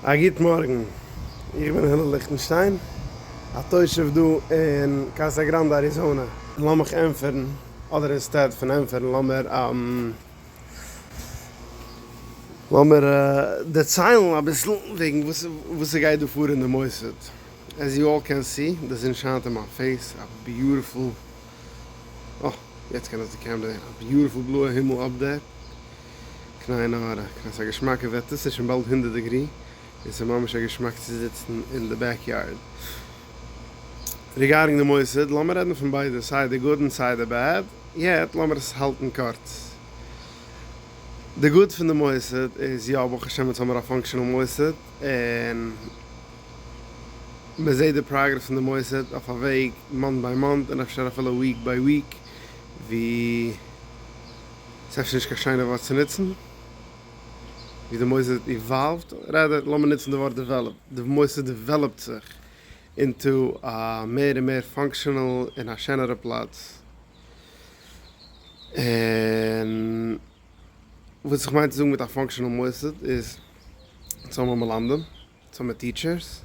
א גוט מארגן, איך בין הלל ליכטנשטיין, א תושב דא אין קאסא גראנדע אריזאנע. לאמיך ענטפערן, אדער אינסטעד פון ענטפערן לאמיר לאמיר דערציילן אביסל וועגן וואס ס'גייט דא פאר אין די מוסד. עז יו אלל קען סי, די זון שיינט אין מיין פעיס, א ביוטיפול, אה, יעצט קען עס די קעמרע זען, א ביוטיפול בלויע הימל אפדעט. קנאי נאר קנאי ס'א געשמאקע וועטער ס'איז שוין באלד הונדערט דעגרי און ס'איז ממש א געשמאק צו זיצן אין די בעק יארד. ריגארדינג די מוסד לאמיר רעדן פון ביידע סיי די גוד און סיי די בעד יעט לאמיר עס האלטן קורץ. די גוד פון די מוסד איז יא ברוך השם אונז האמיר א פאנקשענעל מוסד און מ'זעט די פראגרעס פון די מוסד אויף א וועג מאנט ביי מאנט און אפשר אפילו וויק ביי וויק ווי ס'איז אפשר נישט קיין שיינע ווארט צו נוצן ווי די מוסד איז איוואלווד, רעדער לאמיר נוצן די ווארט דעוועלאפ, די מוסד דעוועלאפט זיך אינטו א מער און מער פאנקשענעל און א שענערע פלאץ, און וואס איך מיין צו זאגן מיט א פאנקשענעל מוסד איז אונז האבן מלמדים. זומער טיטשערס,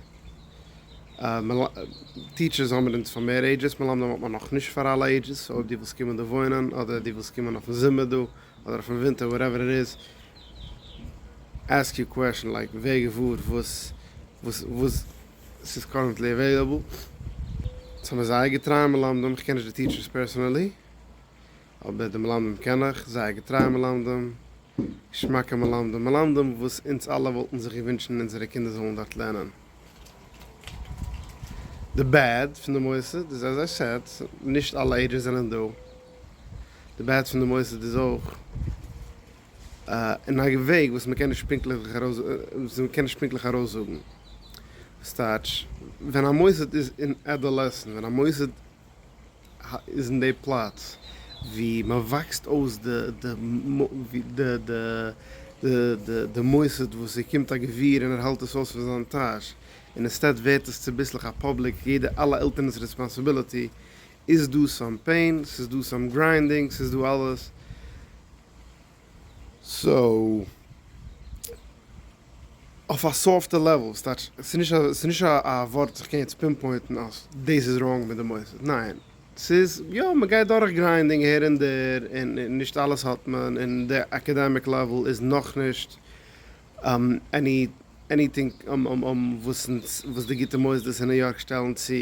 טיטשערס האבן אונז פאר מער עידזשעס, מלמדים האט מען נאכנישט פאר אלע עידזשעס, אויב די ווילסט קומען דא וואוינען, אדער די ווילסט קומען אויפן זומער דא, אדער אויפן ווינטער וואטעווער איט איז, עסק יור קוועשען לייק ווער געוואר וואס וואס ס'איז קארענטלי עוועילעבל, זיי האבן זייער געטרייע מלמדים, כ'קען נישט די טיטשערס פערסענעלי, אבער די מלמדים קען איך, זייער געטרייע מלמדים. געשמאקע מלמדים, מלמדים וואס אונז אלע וואלטן זיך געווינטשן אונזערע קינדער זאלן דארט לערנען. די בעד פון די מוסד איז עז איי סעד, נישט אלע עדות זענען דא, די בעד פון די מוסד איז אויך אין א וועג וואס מ'קען נישט פונקטליך ארויסזאגן, ס'טייטש ווען א מוסד איז אין עדאלעסן, ווען א מוסד. איז אין די פלאץ ווי מען וואקסט אויס די מוסד וואס ער קומט א גביר און ער האלט עס אויס פון זיין טאש און אינסטעד ווערט עס צוביסלעך א פאבליק יעדע אלע עלטערנס רעספאנסיביליטי איז דא סאם פעין ס'איז דא סאם גריינדינג ס'איז דא אלעס. סאו, אויף א סאפטע לעוול, ס'טייטש, ס'איז נישט א ווארט וואס איך קען יעצט פינפוינטן אז דאס איז ראנג מיט די מוסד, ניין, ס'איז יא, מ'גייט דורך גריינדינג אהער און דער, און נישט אלעס האט מען, און די אקעדעמיק לעוול איז נאכנישט עניטינג וואס די גוטע מוסדות אין ניו יארק שטעלן צו,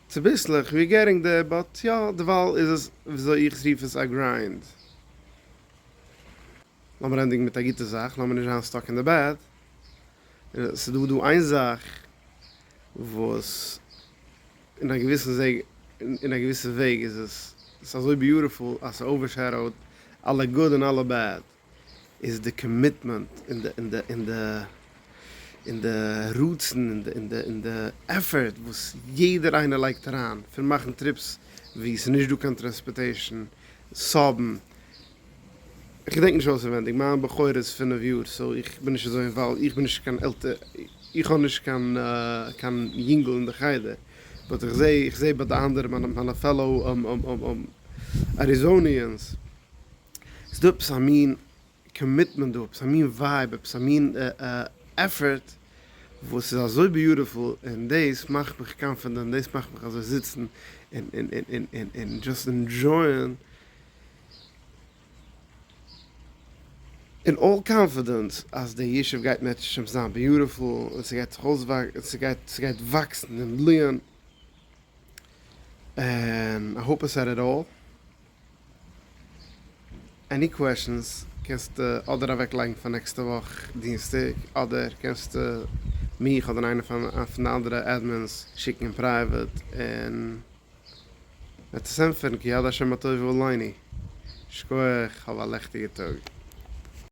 צוביסלעך, ווי ער געטינג דער, באט יא, דערווייל איז עס, וויאזוי איך רוף עס, א גריינד. לאמיר ענדיגן מיט א גוטע זאך, לאמיר נישט זיין סטאק אין די בעד, ס'איז דא דא איין זאך וואס אין א געוויסן וועג, אין א געוויסע וועג איז עס, ס'איז אזוי ביוטיפול אז ס'אווערשעדאוט אלע גוד און אלע בעד, איז די קאמיטמענט און די און די און די און די רצון און די און די און די עפפערט וואס יעדער איינער לייגט אריין, פון מאכן טריפס וואו ס'איז נישט דא קיין טרענספארטעישן, סאבן. כ'געדענק נישט אויסערווענדיג, מיין בחור איז פינף יאר סאו איך בין נישט אזוי אינוואלווד, איך בין נישט קיין איך האב נישט קיין קיין יונגל אין די חדר, באט איך זעה איך זעה ביי די אנדערע מיינע מיינע פעלאו אריזאניענס, ס'דא עפעס א מין קאמיטמענט דא, עפעס א מין ווייב, עפעס א מין עפפערט וואס איז אזוי ביוטיפול, און דאס מאכט מיך קאנפידענט, דאס מאכט מיך אזוי זיצן און דזשאסט אינדזשויען אין אלל קאנפידענס אז די ישוב גייט מעטשן זיין ביוטיפול און ס'גייט זיך אויסוואקסן, ס'גייט וואקסן און בליען, און איך האפ עס עט איט אלל. עני קוועשענס קענסטו אדער אוועק לייגן פאר נעקסטע וואך דינסטאג אדער קענסטו מיך אדער איינע פון די אנדערע עדמינס שיקן אין פרייוועט און מ'עט עס ענטפערן כי יד השם הטוב הוא עלינו. שכוח, האב א לעכטיגע טאג.